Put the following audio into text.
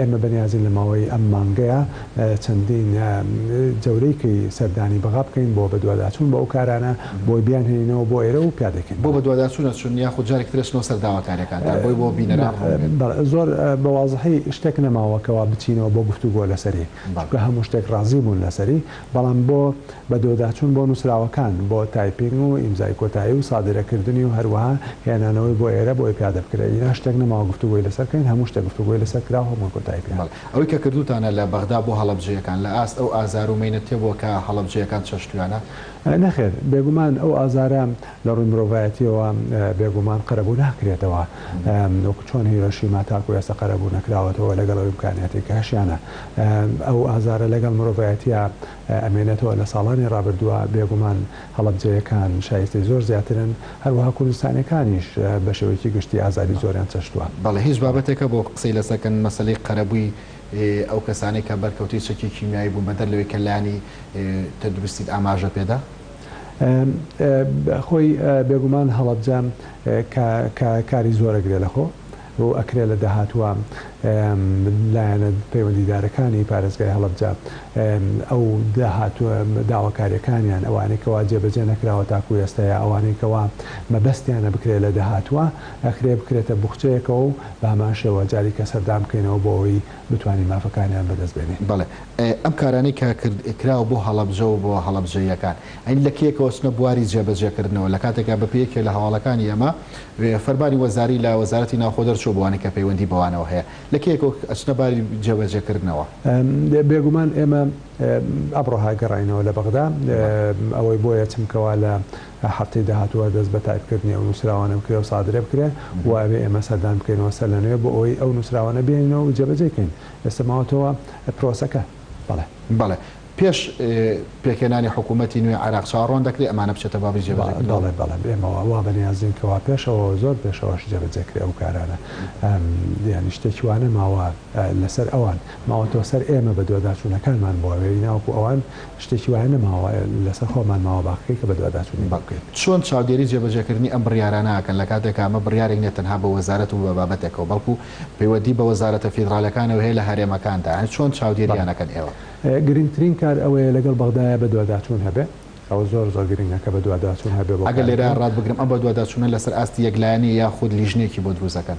ئێمە بەنیازین لە ماوەی ئەم مانگەیا چەندین جەورەیکەی سەردانی بەغا بکەین بۆ بەدواداچوون بۆ ئەو کارانە بۆی بیانهێنینەوە بۆ ئێرە و پیادەکەین بۆ بەڵێ. بەدواداچوون ئەچوون یاخود جارێکی تر ئەچنەوە سەر داواکاریەکان تا بۆی بۆ بینەران ڕوون بێت؟ بەڵێ زۆر بە وازحی شتێک نەماوە کەوا بچینەوە بۆ گفتوگۆ لەسەری بەڵێ. چونکە هەموو شتێک ڕازی بوون لەسەری بەڵام بۆ بەدۆداچوون بۆ نووسراوەکان، بۆ تایپینگ و ئیمزای کۆتایی و سادرەکردنی و هەروەها هێنانەوەی بۆ ئێرە بۆی پیادە بکرێ، ئینا شتێک نەماوە گفتوگۆی لەسەر کەین، هەموو شتێک گفتوگۆی لەسەر کراو هەمووی کۆتایی پێ هات. بەڵێ، ئەوەی کە کردووتانە لە بەغدا بۆ هەڵەبجەیەکان، لە ئاست ئەو ئازار و مەینەتە بووە کە هەڵەبجەیەکان چەشتویانە؟ نەخێر، بێگومان ئەو ئازارە لە ڕووی مرۆڤایەتییەوە بێگومان قەرەبوو ناکرێتەوە، وەکو چۆن هیرۆشیما تاکو ئێستا قەرەبوو نەکراوەتەوە لەگەڵ ئەو ئیمکانیاتەی کە هەشیانە، ئەو ئازارە لەگەڵ مرۆڤایەتیا ئەمێنێتەوە لە ساڵانی ڕابردووە، بێگومان هەڵەبجەیەکان شایستەی زۆر زیاترن، هەروەها کوردستانیەکانیش بە شێوەیەکی گشتی ئازاری زۆریان چەشتووە. بەڵێ هیچ بابەتێکە بۆ قسەی لەسەر کەن مەسەلەی قەرەبووی ئەو کەسانەی کە بەرکەوتەی چەکی کیمیایی بوون بەدەر لەوەی کە لانی تەندروستیت ئاماژە پێدا؟ خۆی بێگومان هەڵەبجە کاری زۆر ئەگرێ لەخۆ، و ئەکرێ لە داهاتووە لایەنە پەیوەندیدارەکانی پارێزگای هەڵەبجە ئەو داهاتووە داواکارییەکانیان ئەوانەی کەوا جێبەجێ نەکراوە تاکوو ئێستە یا ئەوانەی کەوا مەبەستیانە بکرێ لە داهاتووە ئەکرێ بکرێتە بوخچەیەکەوە و بە هەمان شێوە جاریکە سەردان بکەینەوە بۆ ئەوەی بتوانین مافەکانیان بە دەست بێنین. بەڵێ ئەم کارانەی کە کرد کراوە بۆ هەڵەبجە و بۆ هەڵەبجەییەکان ئەی لە کێکەوە چنە بواری جێبەجێ کردنەوە لە کاتێکا بە پێی یەکێ لە هەواڵەکانی ئێمە فەرمانی وەزاری لە وەزارەتی ناوخۆ دەرچووە بۆ ئەوانەی کە پەیوەندی بەوانەوە هەیە لە کەیەکەوە ئەچنە باری جێبەجێکردنەوە. بێگومان ئێمە ئەمڕۆ گەڕاینەوە لە بەغدا، ئەوەی بۆ یەچم کەوا لە هەفتەی داهاتووە دەست بە تایپکردنی ئەو نووسراوانە بکرێ و سادرە بکرێ و ئەبێ ئێمە سەردان بکەینەوە سەر لە نوێ بۆ ئەوەی ئەو نووسراوانە بێنینەوە و جێبەجێی کەین. ئێستا ماوەتەوە پرۆسەکە. بەڵێ. بەڵێ. پێش پێکهێنانی حکوومەتی نوێی عێراق چاوەڕوان دەکرێ ئەمانە بچێتە بابی جێبەجێکردن؟ بەڵێ بەڵێ ئێمە وا بەنیازین کە وا پێشەوە و زۆر پێشەوەش جێبەجێ کرێ ئەو کارانە. یانی شتێکی وا نەماوە لەسەر ئەوان ماوەتەوە سەر ئێمە بەدواداچوونەکانمان بواوێ ناوەکو ئەوان شتێکی وایە نەماوە لەسەر خۆمان ماوە باقەکەی کە بەدواداچوونی بۆ بکەین. چۆن چاودێری جێبەجێکردنی ئەم بڕیارانە ئەکەن لە کاتێکا ئەمە بڕیارێک نیە تەنها بە وەزارەت و بە بابەتێکەوە بەڵکو پەیوەدی بە وەزارەتە فیدراڵیەکانەوە هەیە لە هەرێمەکاندا یانی چۆن چاودێریان ئەکەن ئێوە؟ گرنگترین کار ئەوەیە لەگەڵ بەغدایە بەدواداچوون هەبێ، ئەوە زۆر زۆر گرنگە کە بەدواداچوون هەبێ بۆ ئەگەر لێرە کارەکە. ڕات بگرم ئەم بەدواداچوونە لەسەر ئاستی یەکلایەنە یاخود لیژنەیەکی بۆ دروست ئەکەن؟